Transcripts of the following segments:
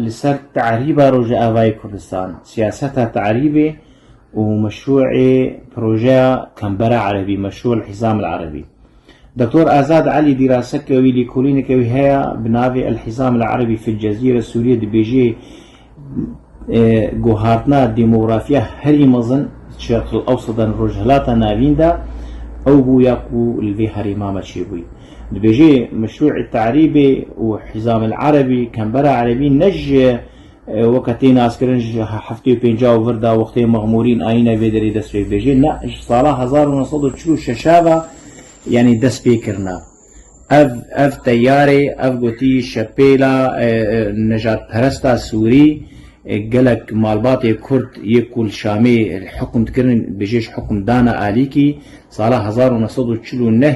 li ser tarîba Rojavayê Kurdistan, siyaseta tarîbê û meşrûê projeya Kembera Erebî, Meşrû El Hîzam El Erebî. Doktor Azad Elî dîraseke wî, lîkolîneke wî heye bi navê El Hîzam El Erebî fil Cezîre Sûrîye dibêje guhartina demografîya herî mezin di Şerq El Ewseda an Rojhilata Navîn de ew bû ya ku li vê herêma me çêbûye. Dibêje Meşrû'î Te'rîbî û Hîzamîl Erebî, Kembera Erebî, ne ji weke tê naskirin ji heftê û pênca û vir de wextê Mexmûrîn ayîne vê derê dest pê bibêje, ne ji sala hezar û neh sed û çil û şeş e ve yanî dest pê kirine. Ev ev teyarê ev gotî şepêla nejadperesta sûrî gelek malbatê kurd yê ku li Şamê hukm dikirin bêje ji hukm dane alîkî sala hezar û neh sed û çil û neh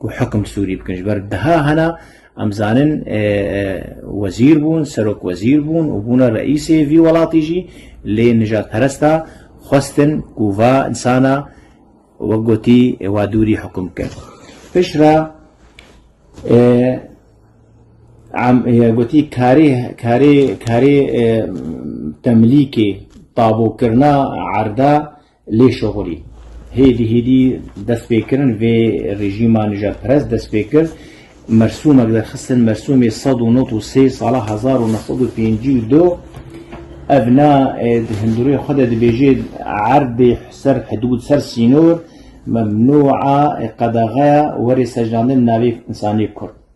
ku hukm Sûrî bikin. Ji ber deha hena em zanin wezîr bûn, serok wezîr bûn û bûne reîsê vî welatî jî lê nijadperesta xwestin ku va insana wek gotî wa dûrî hukm bikin. Pişt re gotî karê karê karê temlîkê tabûkirina erda Lêşoxorî, hêdî hêdî destpêkirin vê rejîma nijadperest dest pê kir. Mersûmek derxistin Mersûmê sed û nod û sê sala hezar û neh sed û pêncî û du ev na di hundirûyê xwe de dibêje erdê ser hidûd ser sînor, memnûa qedexeya werê secdandin navê însanê kurd.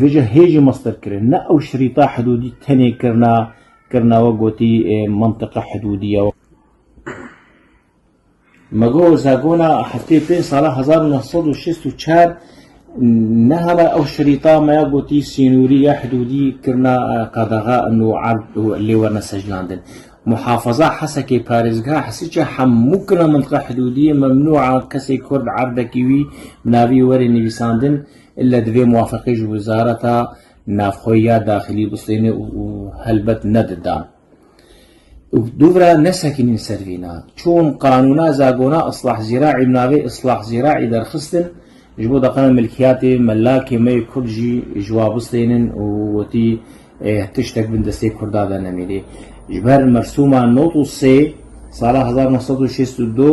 Vêca hê jî master kirin. Ne ew şirîta hidûdî tenê kirina kirina we gotî mintiqa hidûdî ye. Me got zagona heftê pênc sala hezar û neh sed û şêst û çar nehala ew şirîta me ya gotî sînorî ya hidûdî kirina qadaxa û erd û lê werine sejnandin. Muhafaza Hesekê parêzgeha Hesiçê hemû kirina mintiqa hidûdî ye, memnû a kesê kurd erdekî wî bi navî were nivîsandin. Îlle divê muwafeqî ji Wizareta Navxwe ya Daxilî bistêne û helbet ne di dan. Dûvira nesekînîn ser vî na. Çûn qanûna zagona Islah Zîra'î bi navê Islah Zîra'î derxistin, ji bo deqena milkiyatê melakê me yê kurd jî ji wa bistênin û wetî tiştek bin destê kurda de nemînê. Ji ber mersûma not û sê sala hezar neh sed û şêst û du,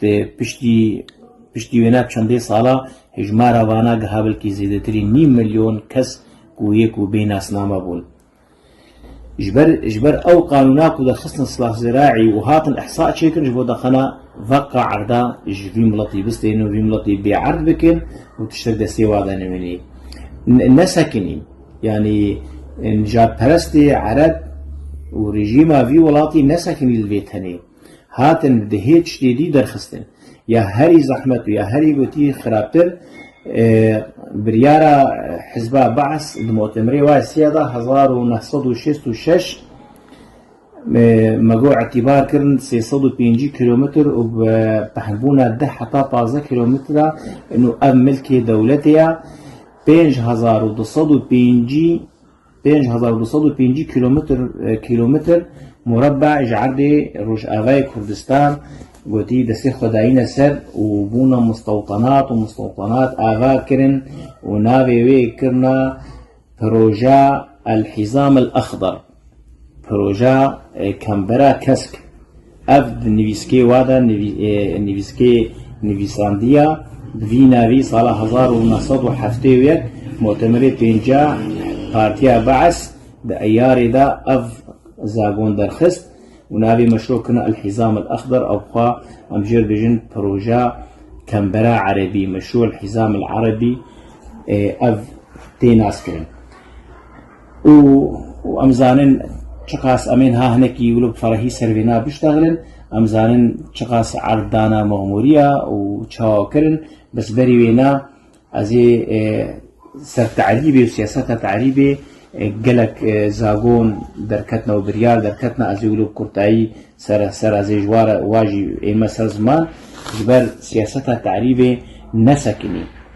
Di piştî piştî wê nav çendê sala hejmara vana giha belkî zêdetirî nîv milyon kes ku yê ku bê nasname bûn. Ji ber ji ber ew qanûna ku derxistin Silah Ziraî û hatin îhsa çêkirin ji bo deqena veqa erda ji vî miletî bistênin û vî miletî bêerd bikin û tiştek destê wa de nemînî nesekinî. Yanî nijadperestê ereb û rejîma vî welatî nesekinî li vê tenê. hatin di hê tiştê dî derxistin. Ya herî zehmet û ya herî gotî xirabtir biryara hizba Baas di motemirê wayê siya da hezar û neh sed û şêst û şeş me go îtîbar kirin sê sed û pêncî kîlometr û bi pehmbûna deh heta pazdeh kîlometr a û ev milkê dewletê ya pênc hezar û du sed û pêncî pênc hezar û du sed û pêncî kîlometr kîlometr murebbe ji erdê Rojavayê Kurdistan gotî destê xwe dayîne ser û bûna mustewtanat û mustewtanat ava kirin û navê wê kirina Proja El Hîzam El Exdar, Proja Kembera Kesk. Ev di nivîskê we de nivîskê nivîsandiya bi vî navî sala hezar û neh sed û heftê û yek Mutemerê Pênceh Partiya Be'es di Eyarê de ev zagon derxist û navê meşro kirine El-Hîzam El-Exder ew xwe em jê re dibêjin proja Kembera Erebî, Meşru El-Hîzam El-Erebî ev tê naskirin. û em zanin çiqas em ên ha hinekî wilo bi ferehî ser vê nav biştexilin, em zanin çiqas erd dana Mexmûriya û çawa kirin, bes berî wê na ez ê ser terîbê û siyaseta terîbê gelek zagon derketina û biryar derketina ez ê wilo bi kurtayî ser ser ez ê ji wa re wa jî ême ser ziman ji ber siyaseta terîbê nesekinî.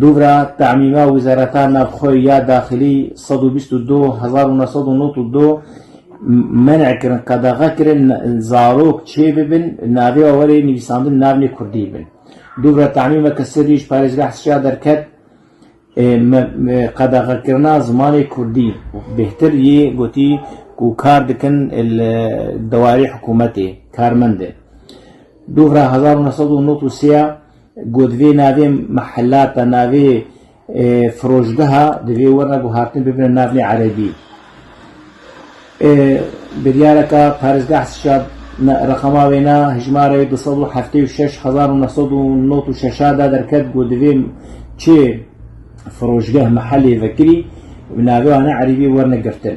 Dûvra temîma wîzareta navxwe ya daxilî sed û bîst û du hezar û neh sed û nod û du men'e kirin, qedexe kirin zarok çêbibin navê û werê nivîsandin navnê kurdî bin. Dûvra temîma ke sê rîj parêzgeha Sisya derket qedexekirina zimanê kurdî bêhtir yê gotî ku kar dikin li dewarê hikûmetê karmend in. Dûvra hezar û neh sed û nod û sê ya Ku divê navê mehelata, navê firoşgeha divê were ku hatin bibine navê erebî. Biryareke parêzgeh sişa reqama wêna hejmarê du sed û heftê û şeş hezar û neh sed û nod û şeş a de derket ku divê çê firoşgeh mehelê vekirî navê wan a erebî werne girtin.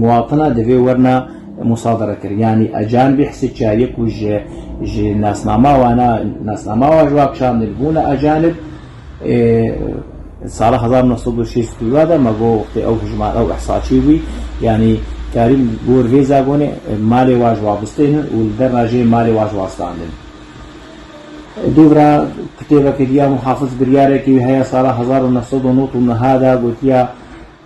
Muwatina divê werna musaderekir yanî ajan bî hisi çayê ku ji ji nasnama wana nasnama wa ji wa kişandin bûna ajan ib. Sala hezar û neh sed û şêst û dua de me got wextê ew hijmar ew ihsaçî bûy yanî Karîm Gor vê zagonê malê wa ji wa bistênin û li derna jê malê wa ji wa standin. Dûvira kitêbeke diya Muhafiz biryarekî wî heye sala hezar û neh sed û nod û niha de gotiya.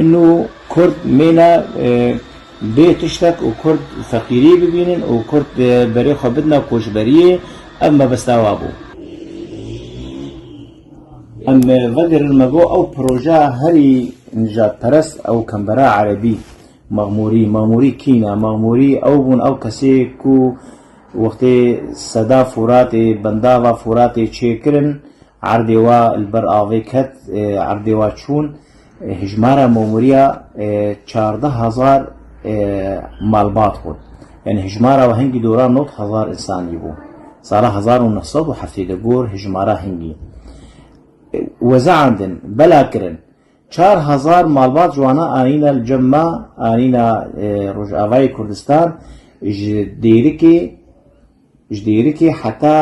Îno kurd mîne bê tiştek û kurd feqîrî bibînin û kurd berê xwe bidina koçberiyê, ev mebesta we bû. Em vedirin me bo ew proja herî nijadperest ew kembera erebî, Maxmûrî. Maxmûrî kî ne? Maxmûrî ew bûn ew kesê ku wextê seda Furatê, bendava Furatê çêkirin, erdê we li ber avê ket, erdê we çûn, Hejmara mamûriya çardeh hezar malbat bû. Yanî hejmara we hingî dora nod hezar însanî bû. Sala hezar û neh sed û heftê di gor hejmara hingî wezeandin bela kirin. Çar hezar malbat ji wana anîne li cem me anîne Rojavayê Kurdistan ji Dêrikê. Ji dêrikê heta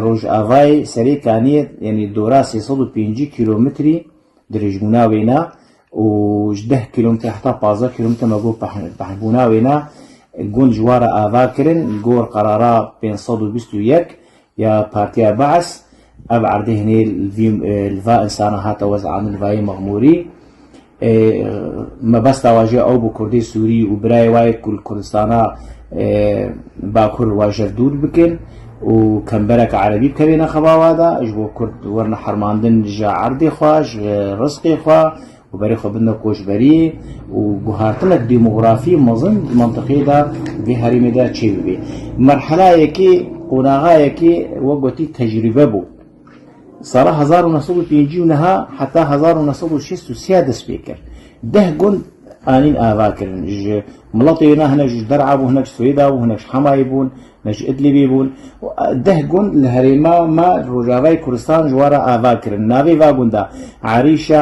rojavayê serê kanê yanî dora sê sed û pêncî kîlometrî dirêjbûna wê ne û ji deh kîlometre heta pazdeh kîlometre me got pehbûna wê ne. Gund ji wa re ava kirin gor qerara pênc sed û bîst û yek ya Partiya Be'es. Ev erdê hinê li va insana hate wez'andin li vayê mexmûrî. Ê mebesta we jî ew bû kurdê Sûrî û birayê we yê ku li Kurdistana Bakur wajer dûr bikin û kembereke erebî bikevêne xeba we de, ji bo kurd werine hermandin ji erdê xwe, ji rizqê xwe û berê xwe bidine koçberiyê û guhartinek demografî mezin di mintiqeyê de û vê herêmê de çêbibê. Merhela yekê, qonaxa yekê wek gotî tecrîbe bû. Sala hezar û neh sed û pêncî û niha heta hezar û neh sed û şêst û sê dest pê kir. Deh gund anîn ava kirin. Ji miletê wê na hinek ji Der'a bûn, hinek ji Swêda bûn, hinek ji Hemayê bûn, hinek ji Idlibê bûn û deh gund li herêma me li rojavayê Kurdistan ji wan re ava kirin. Navê va gunda, Erîşa,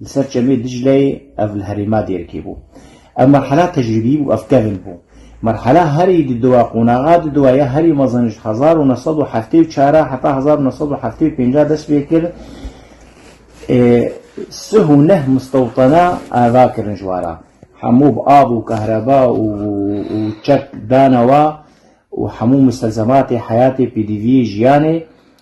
Li ser çemê Dicleyê ev li herêma Dêrikê bû. Ev merhela tecrîbî bû, ev kevn bû. Merhela herî di dowa qonaxa di dowa ya herî mezin ji hezar û neh sed û heftê û çar a heta hezar û neh sed û heftê û pênc a dest pê kir ê sih û neh mistewtena ava kirin ji wara hemû bi av û kehreba û û çek dana wa û hemû mistelzematê heyatê pêdiviyê jiyanê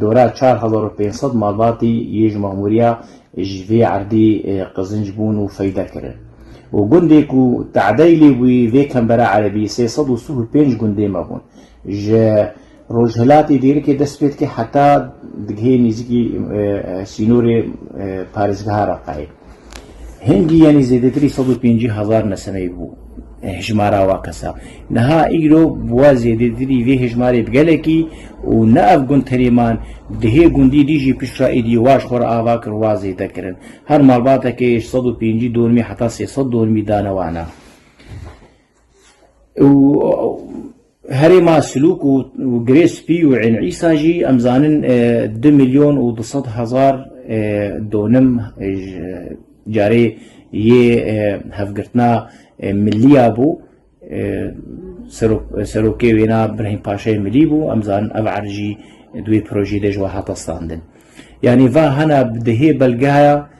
Dora çar hezar û pênc sed malbatî yê ji mamûriya ji vê erdê qizinc bûn û feyde kirin û gundê ku te'deyî lê bûyî vê kembera erebî sê sed û sih û pênc gundê me bûn. Ji rojhilatê dêrikê dest pê dike heta digihê nêzîkî sînorê parêzgeha Reqayê. Hingî yanî zêdetirî sed û pêncî hezar nesemeyî bû hijmara wa kesa. Niha îro bi wa zêdetirî vê hijmarê bi gelekî û ne ev gund tenê man di hê gundî dî jî piştra êdî wa ji xwe re ava kir wa zêde kirin. Her malbateke yê ji sed û pêncî dormî heta sê sed dormî dane wana. û herê ma Silûk û Girê Spî û Ên Îsa jî em zanin du milyon û du sed hezar donim carê yê hevgirtina millî ya bû. Serokê wêna Birhîm Paşayê Milî bû. Em zanin ev erd jî di wê projeyê de ji we hate standin. Yanî va hena bi dihê belgeya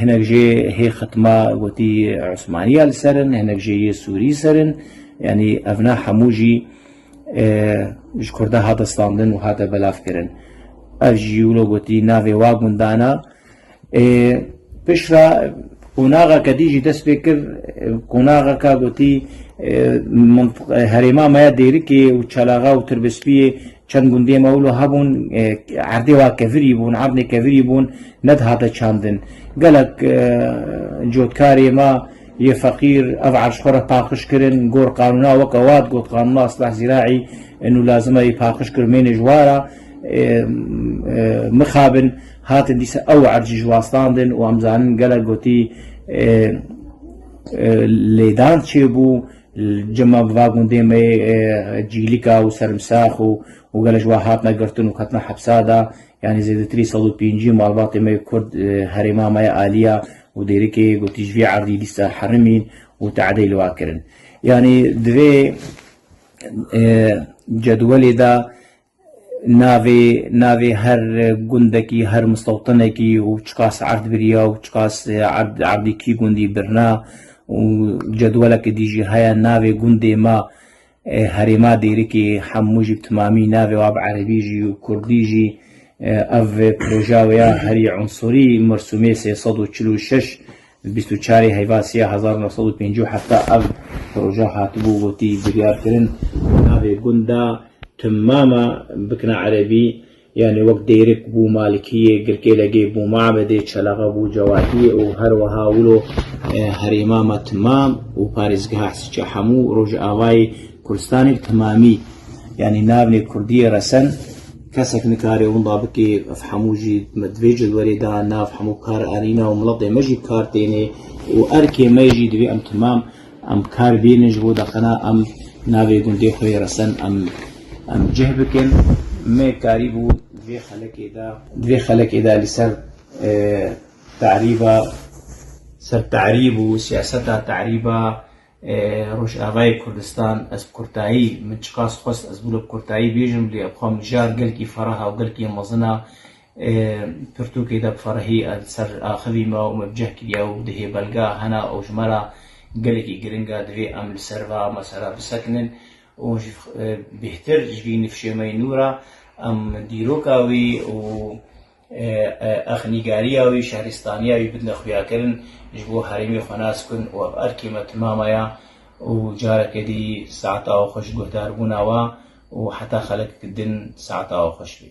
Hinek jê hê xitma gotî Osmaniya li ser in, hinek jê yê Sûrî ser in. Yanî ev ne hemû jî ji Kurdan hate standin û hate belavkirin. Ev jî wilo gotî navê wa gundana pişra qonaxeke dî jî dest pê kir qonaxeka gotî herêma me ya Dêrikê û Çalaxa û Tirbespiyê Çend gundê me wilo hebûn erdê wa kevirî bûn, erdê kevirî bûn nedihate çandin. Gelek cotkarê me yê feqîr ev erş xwe re paqij kirin, gor qanûna weke wat got qanûna isleh zîraî nû lazim e yê paqij kir mênê ji wa re mixabin hatin dîsa ew erd jî ji wa standin û em zanin gelek gotî lêdan çêbû. Cima bi va gundê me yê Cîlika û Serimsax û û gele ji wan hatine girtin û ketina hepsa de. Yanî zêdetirî sed û pêncî malbatê me yê Kurd herêma me ya Aliya û Dêrikê gotî ji vî erdî lîsta herim în û te'deyî li wan kirin. Yanî di vê cedwelê de Navê navê her gundekî, her mistewtinekî û çiqas erd biriya û çiqas erd erdî kî gundî birina û cedweleke dî jî heye navê gundê ma e, herêma Dêrikê hemû jî bi timamî navê wa bi erebî jî û kurdî jî e, ev proja wê ya herî unsurî mirsûmê sê sed û çil û şeş Di bîst û çarê Heyvasî ya hezar û neh sed û pêncî û heft de ev proje hatibû gotî biryarkirin bi navê Gunda Timmama bikna erebî, yanî wek Dêrik bû Malikiyê, Girkêlegê bû Mabedê, Çelaxe bû Cewadiyê û her wiha wilo herêma me Timmam û parêzgeha Hesîçe hemû Rojavayê Kurdistanê bi Timmamî yanî navnê Kurdiyê resen. Kesek nikare wenda bike, ev hemû jî me di vê cilwerê de nav hemû kar erîne û miletê me jî bi kar têne û erkê me jî divê em temam em kar bînin ji bo deqina em navê gundê xwe yê resen em em cih bikin. Me karî bû di vê xelekê de di vê xelekê de li ser terîba ser terîb û siyaseta terîba Rojavayê Kurdistan ez bi kurtayî min çiqas xwest ez bûle bi kurtayî bêjim lê ev xwe mijar gelkî ferah û gelkî mezin a. Pirtûkê de bi ferehî ez li ser axivî me û me bi cih kiriye û di hê belga hene û ji me re gelekî giring e divê em li ser va mesela bisekinin û ji bêhtir ji vî nifşê me yê nû re em dîroka wî û Ex nîgariya wî, şehrîstaniya wî bidine xuyakirin, ji bo herêmê xwe nas bikin û ev erkê me timama ye û careke dî saeta awe xwe ji guhdaribûna we û heta xelek din saeta awe xweş bê.